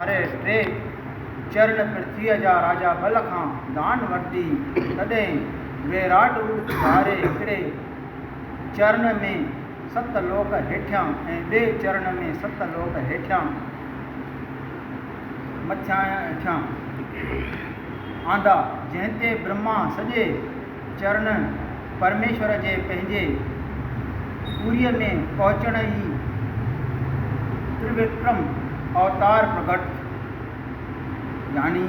وري ٽي چرڻ پرٿويء جا راجا بل کان دان ورتي، تڏهن ويراٽ روپ ڌاري هڪڙي چرڻ ۾ ست لوڪ هيٺيان ۽ ٻئي چرڻ ۾ ست لوڪ هيٺيان مٿيان هيٺيان آندا، جنهن تي برهما سڄي چرڻ پرميشور جي پنهنجي پوريء ۾ پهچڻ ئي تروڪرم اوتار پرگٽ ٿيو. گياني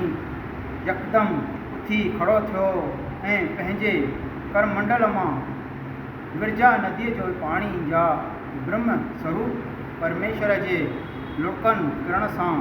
يڪدم اٿي کڙو ٿيو ۽ پنهنجي ڪرمنڊل مان ورجا نديء جو پاڻي جا برهمه سوروپ پرميشور جي لڙڪن ڪرڻ سان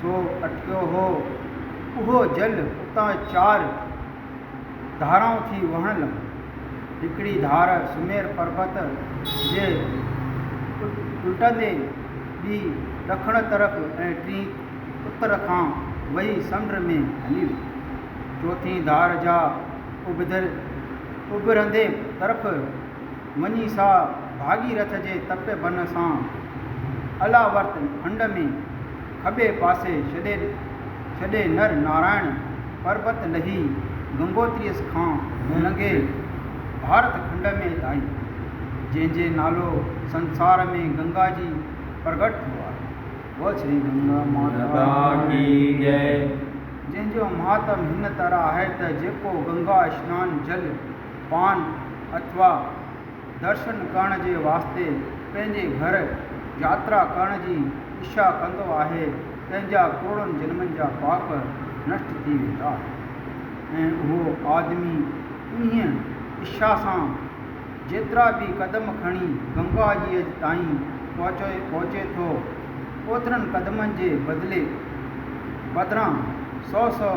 سو اٽڪيو هو، اهو جل اتان چار ڌارائون ٿي وهڻ لڳو. هڪڙي ڌار سمير پربت جي الٽندي، ٻي ڏکڻ طرف ۽ ٽين اتر کان وهي سمنڊ ۾ هلي وئي. چوٿين ڌار جا اڀرندي طرف وڃي سا ڀاڳيرٿ جي تپي بنهه سان الا ورت هنڊ ۾ کٻي پاسي ڇڏي ڇڏي نر نارائڻ پربت لهي گنگوتريس کان لنگهي ڀارت کنڊ ۾ آئي، جنهن جي نالو سنسار ۾ گنگا جي پرگٽ ٿيو آهي. بول شري گنگا ماتا ڪي جئي. جنهن جو مهاتم هن طرح آهي ته جيڪو گنگا اشنان جل پان اٿوا درشن ڪرڻ جي واسطي پنهنجي گهر ياترا ڪرڻ جي اڇا ڪندو آهي، تنهنجا ڪروڙن جنمن جا پاپ نشٽ ٿي ويندا. ۽ اهو آدمي انهيء اڇا سان جيترا به قدم کڻي گنگا جيء تائين پهچي ٿو، اوترن قدمن جي بدلي بدران سؤ سؤ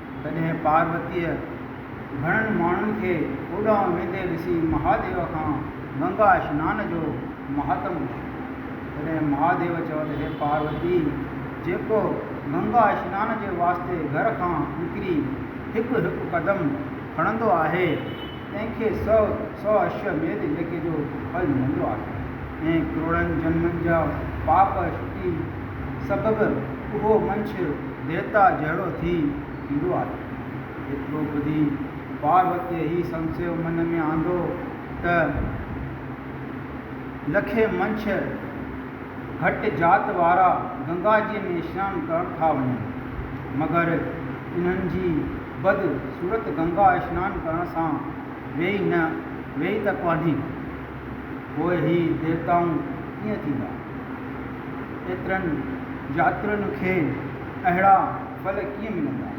تڏهن پاروتيء گهڻن ماڻهن کي اوڏانهن ويندي ڏسي مهاديو کان گنگا اشنان جو مهاتم پڇيو. تڏهن مهاديو چيو ته هي پاروتي! جيڪو گنگا اشنان جي واسطي گهر کان نڪري هڪ هڪ قدم کڻندو آهي، تنهن کي سؤ سؤ اشو ميد يڪي جو ڦل ملندو آهي ۽ ڪروڙن جنمن جا پاپ شڪتي سبب اهو منڇ ديوتا جهڙو ٿي ٿيندو آهي. ايترو ٻڌي پاروتيء هي سمسيو من ۾ آندو ته لکين منڇ گهٽ ذات وارا گنگا جيء ۾ سنان ڪرڻ ٿا وڃن، مگر انهن جي بد صورت گنگا اشنان ڪرڻ سان ويئي نه ويئي ته ڪونهي. پوء هي ديوتائون ڪيئن ٿيندا؟ ايترن ياترين کي اهڙا ڦل ڪيئن ملندا؟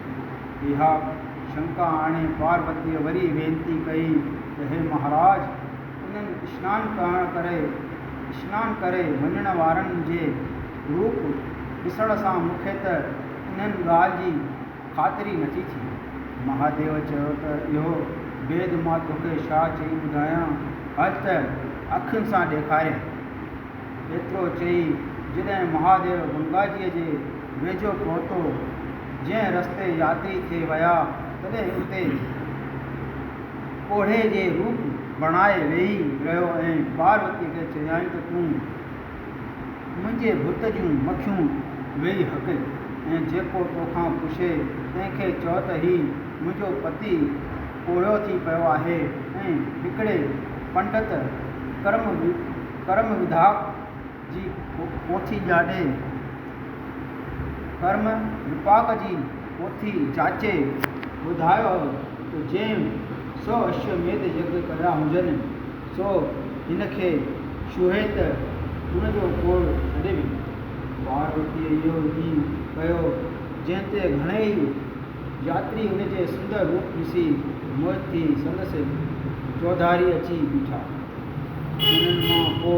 اها شنڪا آڻي پاروتيء وري وينتي ڪئي ته هي مهاراج! انهن اشنان ڪرڻ ڪري اشنان ڪري وڃڻ وارن جي روپ ڏسڻ سان مون کي ته انهن ڳالهه جي خاطري نٿي ٿئي. مهاديو چيو ته اهو بيد مان توکي ڇا چئي ٻڌايان، هل ته اکين سان ڏيکاريان. ايترو چئي جڏهن مهاديو گنگاجيء جي ويجهو پهتو، جنهن رستي ياتري ٿي ويا، تڏهن اتي پوڙهي جي روپ بڻائي ويهي رهيو ۽ پاروتيء کي چيائين ته تون منهنجي ڀت جون مکيون ويهي هڪ ۽ جيڪو توکان پڇي تنهن کي چئو ته هي منهنجو پتي پوڙهيو ٿي پيو آهي ۽ هڪڙي پنڊت ڪرم ڪرم وڌاڪ جي پوٿي جاڏي ڪرم وپاڪ جي پوٿي جاچي ٻڌايو ته جنهن سو اشوميڌ يگ ڪيا هجن سو هن کي ڇهي ته ان جو کوڙ ڇڏي ويندو. پاروتيء اهو ئي ڪيو، جنهن تي گهڻي ئي ياتري ان جي سندر روپ ڏسي موهت ٿي سندس چوڌاري اچي بيٺا. انهن مان ڪو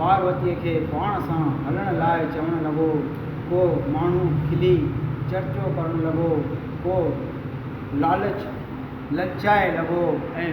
پاروتيء کي پاڻ سان هلڻ لاء چوڻ لڳو، ڪو ماڻهو کلي چرچو ڪرڻ لڳو، ڪو لالچ للچائي لڳو ۽.